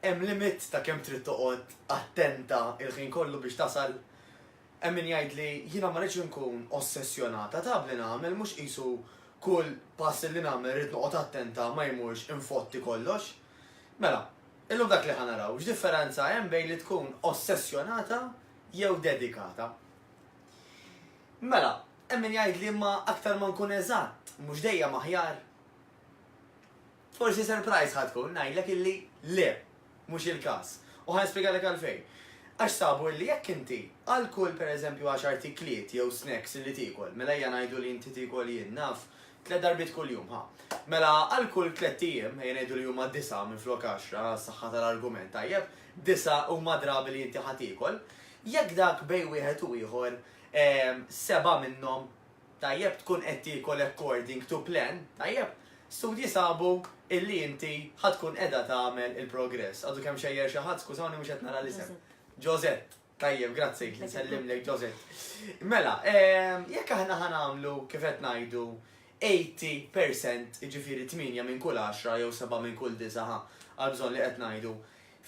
Hemm limit ta' kemm trid toqgħod attenta l-ħin kollu biex tasal. Hemm min jgħidli, jiena ma rridx inkun ossessjonata taf li nagħmel, mhux qisu kull pass li nagħmel rrid noqgħod attenta ma jmurx infotti kollox. Mela, illum dak li ħa naraw, x'differenza hemm bejn li tkun ossessjonata jew dedikata. Mela, hemm min jgħidli imma aktar ma nkun eżatt, mhux dejjem aħjar? Forsi surprise ħa tkun ngħidlek illi le, mhux il-każ. U ħa nispjegalek għalfejn. Għax sabu illi jekk inti għal kull pereżempju għaxar tikliet jew snacks illi tiekol, mela ejja ngħidu li inti tiekol jien naf, tliet darbiet kuljum ħa. Mela għal kull tlett ijiem, ejja ngħidu li huma disgħa minflok għaxra għas-saħħa tal-argument, tajjeb, disgħa huma drabi li inti ħa tiekol, jekk dak bejn wieħed u ieħor seba' minnhom Tajjeb tkun qed tiekol according to plan, tajjeb? Studji sabu illi inti ħa tkun qiegħda tagħmel il-progress. Għadu kemm xejjer xi ħadd, skużawni mhux qed nara l-isem. Josette. Tajjeb, grazzi, nsellimlek Josette. Mela, ehm, jekk aħna ħa nagħmlu kif qed ngħidu 80% jiġifieri 8 minn kull 10 jew 7 minn kull 9 għal bżonn li qed ngħidu.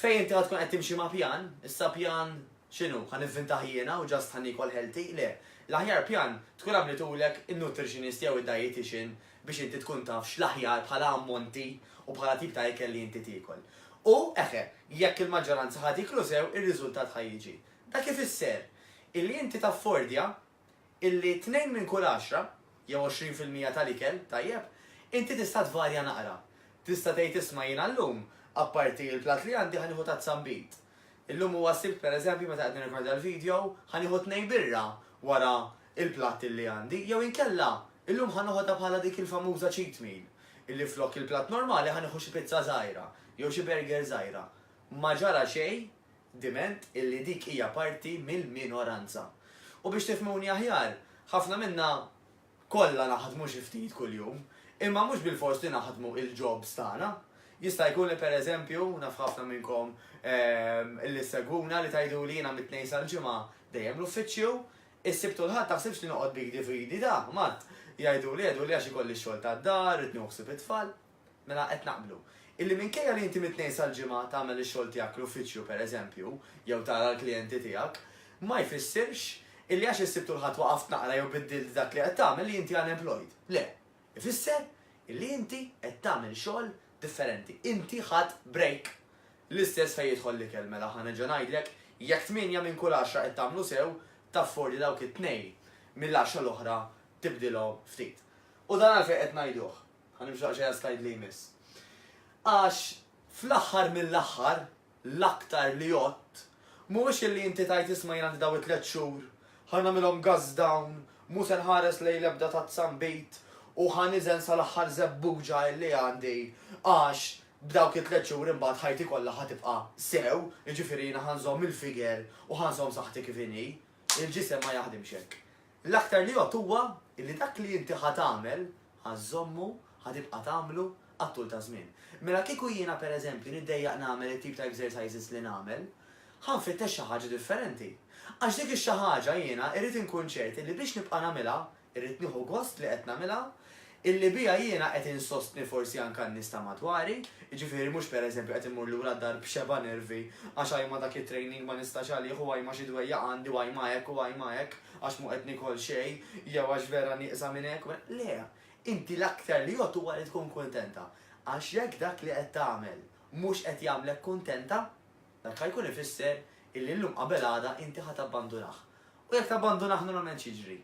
Fejn inti ħa tkun qed timxi ma' pjan, issa pjan X'inhu, ħa nivvintah jiena u just ħa niekol healthy? Le. L-aħjar pjan, tkun għamlitulek in-nutritionist jew id-dietician biex inti tkun taf x'l-aħjar bħala ammonti u bħala tip ta' ikel li inti tiekol. U, eħe, jekk il-maġġoranza ħa tieklu sew, ir-riżultat ħa jiġi. Dak ifisser, illi inti taffordja illi tnejn minn kull għaxra, jew għoxrin fil-mija tal-ikel, tajjeb, inti tista' tvarja naqra. Tista' tgħid isma' jiena llum, apparti l-platt li għandi, ħa nieħu tazza nbid. Illum huwa s-Sibt pereżempju meta qed nirrekordja l-video, ħa nieħu tnejn birra wara l-platt illi għandi, jew inkella, illum ħa noħodha bħala dik il-famuża cheat meal, illi flok il-platt normali ħa nieħu xi pizza żgħira, jew xi burger żgħira. Ma ġara xejn diment illi dik hija parti mill-minoranza. U biex tifhmuni aħjar, ħafna minna kollha naħdmu xi ftit kuljum, imma mhux bilfors li naħdmu il-jobs tagħna. Jista' jkun li pereżempju, naf ħafna minnkom li ssegwuna li tgħiduli jiena mit-Tnejn sal-Ġimgħa dejjem l-uffiċċju, is-Sibt u l-Ħadd taħsibx li noqgħod b'idi f'idi da, Matt, jgħiduli, jgħiduli għax ikolli x-xogħol tad-dar, irid nieħu ħsieb it-tfal. Mela qed naqblu. Illi minkejja li inti mit-Tnejn sal-Ġimgħa tagħmel ix-xogħol tiegħek fl-uffiċċju, per eżempju, jew tara l-klijenti tiegħek, ma jfissirx illi għax is-Sibt u l-Ħadd waqaft naqra jew biddilt dak li qed tagħmel li inti unemployed. Le. Ifisser illi inti qed tagħmel xogħol differenti. Inti ħadt break. L-istess fejn jidħol l-ikel. Mela ħa nerġa' ngħidlek, jekk tmienja minn kull għaxra qed tagħmlu sew, tafford li dawk it-tnejn mill-għaxra l-oħra tibdilhom ftit. U dan għalfejn qed ngħiduh? Ħa nimxu daqsxejn għas-slide li jmiss. Għax fl-aħħar mill-aħħar, l-aktar li għodt, mhuwiex illi inti tgħid isma' jien għandi daw it-tliet xhur, ħa nagħmilhom gazz dawn, mhu se nħares lejn l-ebda tazza nbid u ħa niżen sal-aħħar żebbuġa illi għandi għax b'dawk it-tliet xhur imbagħad ħajti kollha ħa tibqa' sew, jiġifieri jiena ħa nżomm il-figure u ħa nżomm saħħti kif inhi. Il-ġisem ma jaħdimx hekk. L-aktar li jgħodd huwa li dak li inti ħa tagħmel, ħa żżommu, ħa tibqa' tagħmlu għat-tul taż-żmien. Mela kieku jiena pereżempju niddejjaq nagħmel it-tip ta' exercises li nagħmel, ħa nfittex xi ħaġa differenti. Għax dik ix-xi ħaġa jiena irrid inkun ċert li biex nibqa' nagħmilha, irrid nieħu gost li qed nagħmilha, illi biha jiena qed insostni forsi anke n-nies ta' madwari, jiġifieri mhux per eżempju qed immur lura d-dar b'xebgħa nervi għax ajma dak it-training ma nistax għalih u ajma xi dwejjaq għandi u ajma hekk u ajma hekk għax mhu qed nikol xejn jew għax vera nieqsa minn hekk u minn hekk. Le, inti l-aktar li għodd huwa li tkun kuntenta għax jekk dak li qed tagħmel mhux qed jagħmlek kuntenta, dak ħa jkun ifisser illi llum qabel għada inti ħa tabbandunah. U jekk tabbandunah normalment x'jiġri?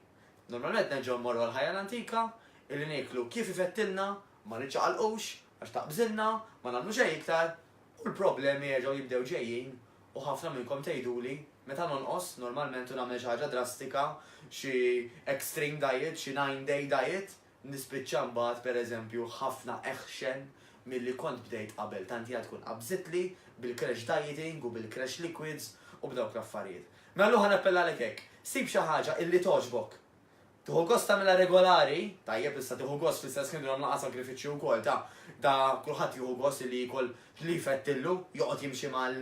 Normalment nerġgħu mmorru għall-ħajja l-antika, illi nieklu kif ifettilna, ma niċċaqalqux, għax taqbżilna, ma nagħmlu xejn iktar, u l-problemi jerġgħu jibdew ġejjin, u ħafna minnkom tgħiduli, meta nonqos, normalment u nagħmel xi ħaġa drastika, xi extreme diet, xi nine day diet, Nispiċċa mbagħad, pereżempju, ħafna aħxen milli kont bdejt qabel, tant hija tkun qabżitli bil-crash dieting u bil-crash liquids u b'dawk l-affarijiet. Mela l-lum ħa nappellalek hekk, sib xi ħaġa illi togħġbok. Tieħu gost tagħmilha regolari, tajjeb issa tieħu gost fl-istess ħin nagħmlu naqra sagrifiċċju wkoll, ta, da kulħadd jieħu gost illi jiekol li jfettillu, joqgħod jimxi mal,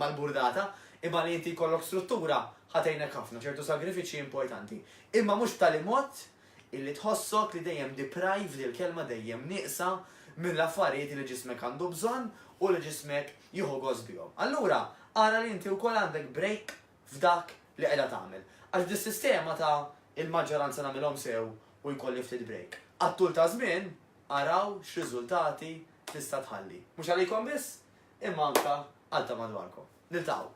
mal-burdata, imma li inti jkollok struttura ħa tgħinek ħafna, ċertu sagrifiċċji importanti. Imma mhux b'tali mod Illi tħossok li dejjem deprived, il-kelma dejjem nieqsa, mill-affarijiet li ġismek għandu bżonn u li ġismek jieħu gost bihom. Allura ara li inti wkoll għandek break f'dak li qiegħda tagħmel. Għax b'dis-sistema ta' il-maġġoranza nagħmilhom sew u jkolli ftit break, għat-tul ta' żmien araw x'riżultati tista' tħalli. Mhux għalikom biss, imma anke għal ta' madwarkom. Niltaqgħu!